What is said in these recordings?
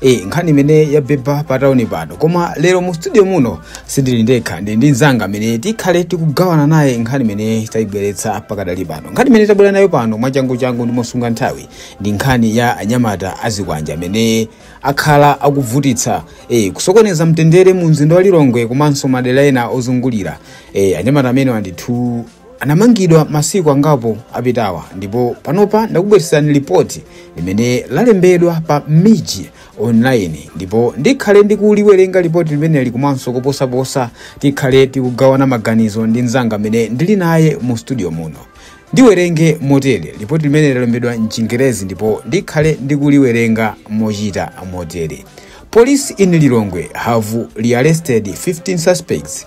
Eh, nkhani imene yabhebha pa tauni pano koma lero mu studio muno sindili ndekha ndili ndi mzanga amene tikhale tikugawana naye nkhani imene tayibweretsa pakadali pano nkhani imene tabwera nayo pano mwachanguchangu ndi mosunga nthawi ndi nkhani ya anyamata azikwanje amene akhala akuvutitsa eh, kusokoneza mtendere mu mzinda wa lilongwe komanso madera ena ozungulira eh, anyamata amenewa ndithu anamangidwa masiku angapo apitawa ndipo panopa ndakubweretserani lipoti limene lalembedwa pa mij online ndipo ndikhale ndikuliwerenga lipoti limeneli komanso kuposaposa tikhale tikugawana maganizo ndi mzanga amene ndili naye mu studio muno ndiwerenge motere lipoti limene lalembedwa mchingerezi ndipo ndikhale ndikuliwerenga mochita motere police in lilongwe have rearrested 15 suspects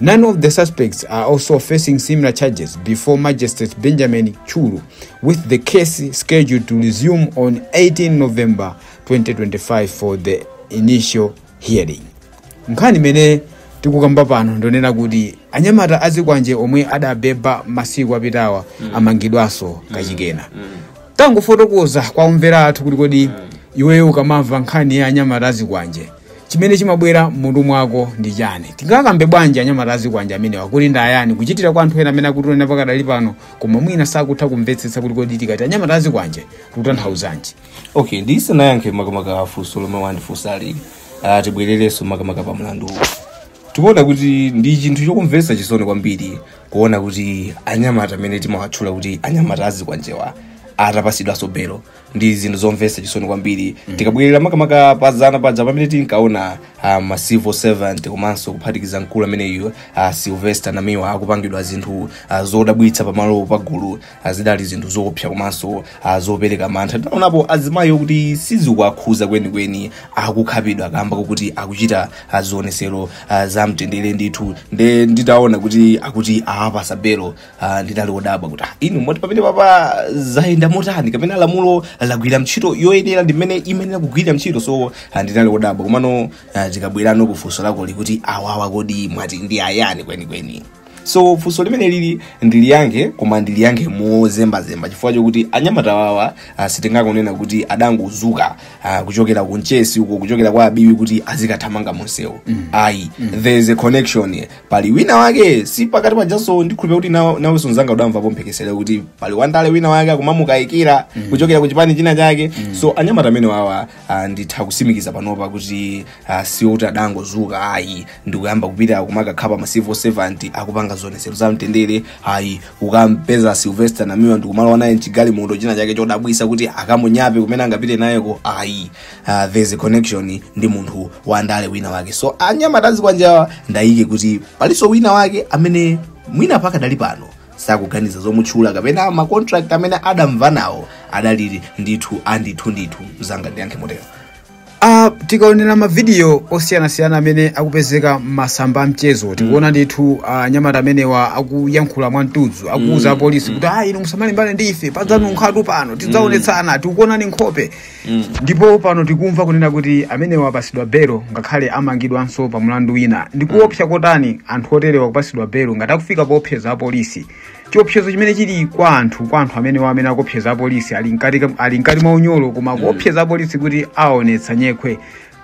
Nine of the suspects are also facing similar charges before Magistrate Benjamin Chulu, with the case scheduled to resume on 18 November 2025 for the initial hearing. nkhani imene tikukamba pano ndonena kuti anyamata azikwanje omwe adabeba masiku apitawa amangidwanso kachikenanso tangofotokoza kwa omvera athu kuti kodi iweyo ukamamva nkhani ya anyamata azikwanje chimene chimabwera m'mutu mwako ndi chani tingakambe bwanji anyamata azikwanje amenewa kuti ndi ayani kuchitira kwa anthu ena amene akutionera pakadali pano koma mwina sakutha kumvetsetsa kuti kodi tikati anyamata azikwanje tikutanthauzanji okay ndisanayankhe makamaka funso lomwe wandifunsali ah, tibwererenso makamaka pa mlandu uwu tikuona kuti ndi chinthu chokumvetsa chisoni kwambiri kuona kuti anyamata amene timawatchula kuti anyamata azikwanjewa atapasidwanso belo ndi zinthu zomvetsa chisoni kwambiri tikabwerera makamaka pa zana paja pamene tinkaona ah, ma civil servant komanso kuphatikiza mkulu ameneyo ah, sylvester namiwa akupangidwa zinthu ah, zodabwitsa pamalo pagulu ah, zidali zinthu zoopsa komanso ah, zopereka mantha tinaonapo azimayi okuti sizikuwakhuza kwenikweni akukhapidwa kamba kokuti akuchita ah, zionesero ah, za mtendere ndithu nde nditaona kuti akuti awapasa belo Ah, ndinali odabwa kuti ah, inu moti pamenepapa zayenda motani kapena lamulo lagwira ntchito yoyenera ndi mmene imayenera kugwira ntchito so ah, ndinali odabwa komano ah, tikabwerano ku funso lako likuti awawa kodi mwati ndi ayani kwenikweni so funso limeneli ndiliyankhe koma ndiliyankhe mozembazemba chifukwa chokuti anyamata awawa ah, sitingangonena kuti adangozuka ah, kuchokera ku mchesi uko kuchokera kwa Biwi kuti azikathamanga monsewo ayi there is a connection pali wina wake si pakati apa pajanso ndikhulupira kuti nawe- nawenso mzanga udamvapo mphekesera kuti pali wandale wina wake akumamukayikira kuchokera ku chipani china chake so anyamata amenewawa ah, nditha kusimikiza panopa kuti ah, si oti adangozuka ayi ndikuyamba kupita kumakakhapa ma civil servant akupanga zionetsero za mtendere ayi kukampeza sylvester namiwa ndikumalowa naye mchigalimoto china chake chodabwisa kuti akamunyape kumene angapite nayeko ayi uh, there's a connection ndi munthu wa ndale wina wake so anyamata azikwanjewa ndayika kuti palinso wina wake amene mwina pakadali pano sakuganiza zomutchula kapena ma contract amene adamvana nawo adalili ndithu andithu ndithu zanga ndiyankhe motero Uh, tikaonera mavidiyo osiyanasiyana amene akupezeka m'masamba a mchezo tikuona ndithu uh, anyamata amenewa akuyankhula mwamtudzu akuuza apolisi kuti ayi inu musamalimbane ndi ife padzanunkhatu pano tidzaonetsana tikukuonani nkhope ndipo pano tikumva kunena kuti amenewa apasidwa belo ngakhale amangidwanso pa mulandu wina ndikuopsa kotani anthu oterewa kupasidwa belo ngati akufika poopseza apolisi chiopsezo chimene chili kwa anthu kwa anthu amenewa amene akuopseza apolisi ali mkati ka- ali mkati mwa unyolo koma kuopseza apolisi kuti aonetsa nyekhwe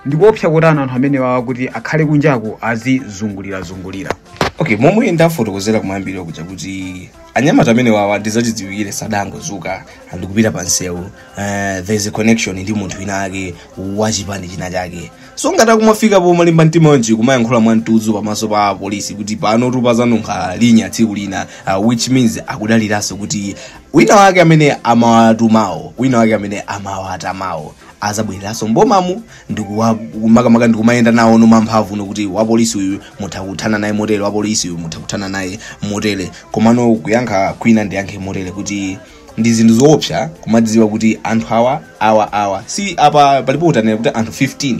ndikuopsa kotani anthu amenewa kuti akhale kunjako azizungulirazungulira okay momwe ndafotokozera kumayambiriro kuja kuti anyamata amene awawa ndizachidziwikire sadangodzuka ndikupita pa msewu Uh, there is a connection ndi munthu wina ake wachipani china chake so ngati akumafika pomalimba mtima wonje kumayankhula mwa mtudzu pamaso pa polisi kuti pano tu pazanunkha linya tsiku lina uh, which means akudaliranso kuti wina wake amene amawatumawo wina wake amene amawatamawo azabwereranso mbomamu ndiye makamaka ndikumayenda nawo ndi ma mphamvu nokuti wapolisi uyu mutha kuthana naye motere wapolisi uyu mutha kuthana naye motere komano kuyankha kwina ndiyankhe motere kuti ndi zinthu zoopsa kumadziwa kuti anthu awa awa awa si apa palipo utanena kuti anthu 15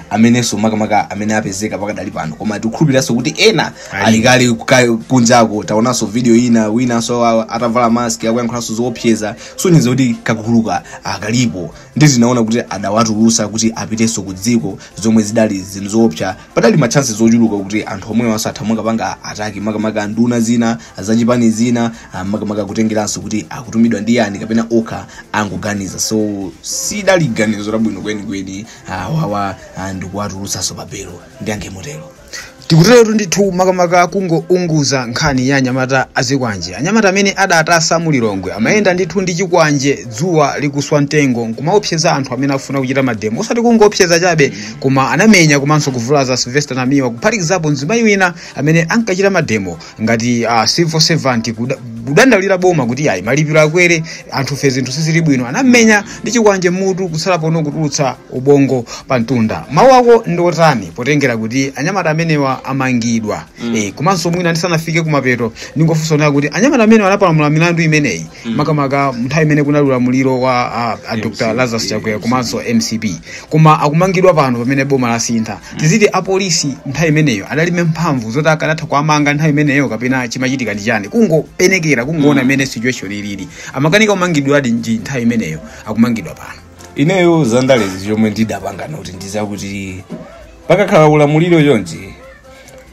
amenenso makamaka amene apezeka pakadali pano koma tikukhulupiriranso kuti ena ali alikadali kuka- kunjako taonanso video ina winanso a- atavala mask akuyankhulanso zoopseza zosonyeza kuti kaguluka akalipo ndi tinaona kuti adawatulutsa kuti apitenso ku dziko zomwe zidali zinthu zoopsa padali ma chances ochuluka kuti anthu omwewanso atha mwina kukapanga attack makamaka nduna zina zachipani zina ah, makamaka kutengeranso kuti akutumidwa ndi ndani kapena okha angoganiza so sidali ganizo labwino kwenikweni ah, wawa ah, ndikuwatulutsanso pabelo ndiyankhe motero tikuteretu ndithu makamaka kungounguza nkhani ya anyamata azikwanje anyamata amene adavuta mu lilongwe amayenda ndithu ndi chikwanje dzuwa likuswa mtengo nkumaopseza anthu amene afuna kuchita mademo osati kungoopseza chabe koma anamenya komanso kuvulaza sylvester namiwa kuphatikizapo mzimayi wina amene ankachita mademo ngati uh, civil servant kuda- kudandaulira boma kuti ayi malipiro akwere anthufe zinthu sizili bwino anamenya ndi chikwanje mutu kutsala pang'ono kutulutsa ubongo pa mtunda mawu ako ndi otani potengera kuti anyamata amenewa amangidwa mm. e, komanso mwina ndisanafike kumapeto ndingofunsa onera kuti anyamata amenewa anapalamula milandu imeneyi mm. makamaka nthawi imene kunali ulamuliro wa uh, a dr lazarus chakwera komanso mcp koma akumangidwa pano pamene boma lasintha tiziti apolisi nthawi imeneyo adalibe mphamvu zoti akanatha kuwamanga nthawi imeneyo kapena chimachitika ndi chani kungopenekera kungoona imene situation ilili amakanika kumangidwa bwanji nthawi imeneyo akumangidwa pano ineyo zandalezi chomwe ndidapanga noti ndizakuti pakakhala ulamuliro chonchi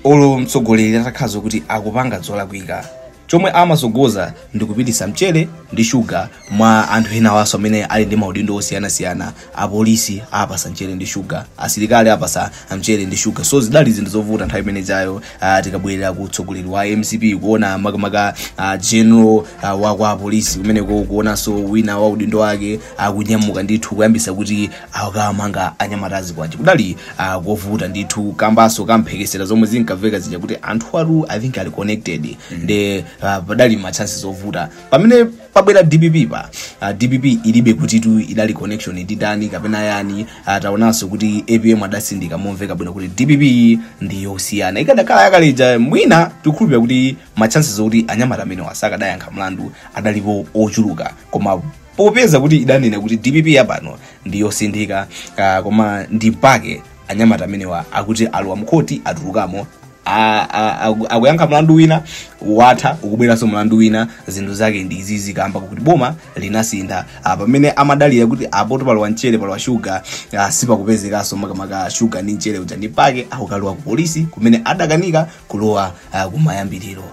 olo mtsogoleri atakhala kuti akupanga zolakwika chomwe amatsogoza ndi kupititsa mchere ndi shuga mwa anthu enawanso amene ali ndi maudindo osiyanasiyana apolisi apatsa mchere ndi shuga asilikali apatsa mchere ndi shuga so zidali zinthu zovuta nthawi imene ijayo uh, tikabwerera ku utsogoleri wa mcp kuona makamaka uh, general uh, wa kwa polisi kumeneko kuonanso wina wa udindo wake akunyamuka ndithu kuyambisa kuti akamanga anyamata azikwanje kudali ah, kovuta ndithu kambanso kamphekesera zomwe zinkamveka zija kuti anthu atu i think ali connected nde ah, padali ma chances ovuta pamene pabwera dpp pa ah, dpp ilibe kuti tu idali connection ndi dani kapena yani ah, taonanso kuti apm adatsindika momveka bwino kuti dpp ndi yosiyana ikadakhala yakaleja mwina tikukhulupira kuti ma chances okuti anyamata amenewa sakadayankha mlandu adalipo ochuluka koma popeza kuti idanena kuti dpp yapano ndi yosinthika ah, koma ndi mpake anyamata amenewa akuti alowa mkhoti atulukamo a- a- aku- akuyankha mlandu wina watha ukubweranso mlandu wina zinthu zake ndi izizi kamba kuti boma linasintha Ah, pamene amadalira kuti apoto palowa mchere palowa shuga ah, sipakupezekanso makamaka shuga ndi mchere uja ndi mpake akukalowa ku polisi kumene adakanika kulowa ah, kumayambiriro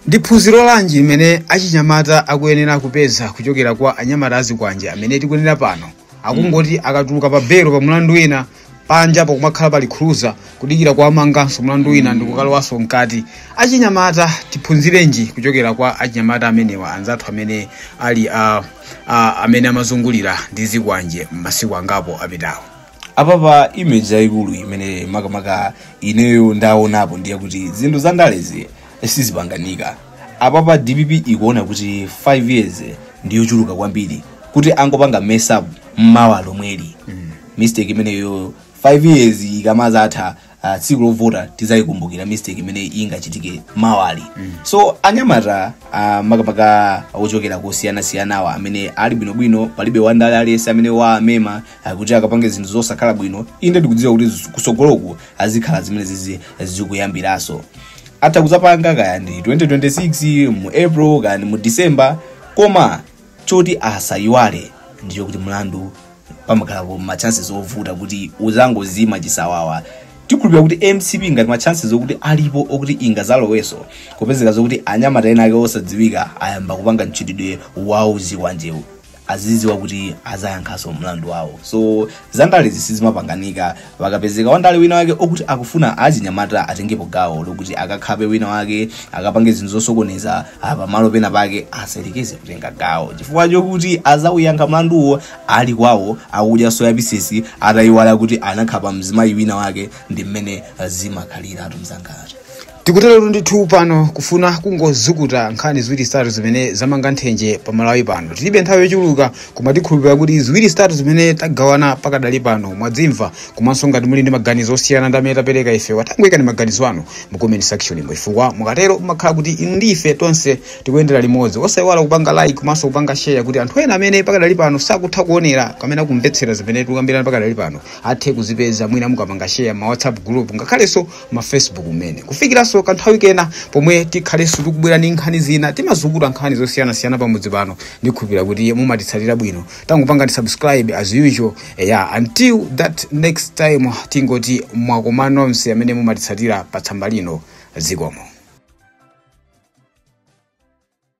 Ndi phunziro lanji limene achinyamata akuyenera kupeza kuchokera kwa anyamata azikwanje amene tikunena pano akungoti akatuluka pa belo pa mlandu wina panja pakumakhala pali cruiser kudikira kuwamanganso mlandu wina ndi kukalowanso mkati achinyamata tiphunzirenji kuchokera kwa achinyamata amenewa anzathu amene ali a, a, amene amazungulira ndi zikwanje m'masiku angapo apitawo apapa image yayikulu imene makamaka ineyo ndaonapo ndi yakuti zinthu za ndalezi sizipanganika apapa dpp ikuona kuti 5 years ndiyochuluka kwambiri kuti angopanga mess up mmawa lomweli mistake imeneyo 5 years ikamazatha uh, tsiku lovota tidzayikumbukira mistake imene ingachitike mmawali mm. so anyamata uh, makamaka ochokera kosiyanasiyanawa amene ali bwinobwino palibe wandale aliyense amene waamema uh, kuti akapange zinthu zosakhala bwino inde ndikudziwa kuti zis- kutsogoloku azikhala zimene zizi zikuyambiranso atha kuzapanga kaya ndi 2026 mu april kaya ndi mu december koma choti asayiwale ndichokuti mlandu pamakhalapo ma chances ovuta kuti uzangozima chisawawa tikhulupira kuti mcp ngati ma chances okuti alipo okuti ingazaloweso kupezeka zokuti anyamata ena ake osadziwika ayamba kupanga mchitidwe wa zikwanjewu aziziwa kuti azayankhaso mlandu wawo so zandalezi sizimapanganika pakapezeka wandale wina wake okuti akufuna achinyamata atengepo gawo lokuti akakhape wina wake akapange zinthu zosokoneza pamalo pena pake asayerekeze kutenga gawo chifukwa chokuti azauyankha mlanduwo ali kwawo akudya soya pisisi atayiwala kuti anakhapa mzimayi wina wake ndi mmene zimakhaliratu mzangatu tikuteretu ndithu pano kufuna kungozukuta nkhani ziwiri zitatu zimene zamanga nthenje pa malawi pano tilibe nthawi yochuluka koma tikhulupirira kuti ziwiri zitatu zimene tagawana pakadali pano mwadzimva komanso ngati muli ndi maganizo osiyana ndi amene tapereka ife tangoyikani maganizo anu mu comment section imo chifukwa mukatero mumakhala kuti inu ndi ife tonse tikuyendera limodzi osayiwala kupanga like komanso kupanga share kuti anthu ena amene pakadali pano sakutha kuonera kapena kumvetsera zimene tikukambirana pakadali pano athe kuzipeza mwina mukapanga share ma whatsapp group ngakhalenso ma facebook mmenemo kufikiranso kanthawi kena pomwe tikhalenso tikubwera ndi nkhani zina timazukuta nkhani zosiyanasiyana pamudzi pano ndikhulupira kuti mumatitsatira bwino tangopangani subscribe as usual yeah until that next time tingoti mwakoma nonse amene mumatitsatira pa tsamba lino zikomo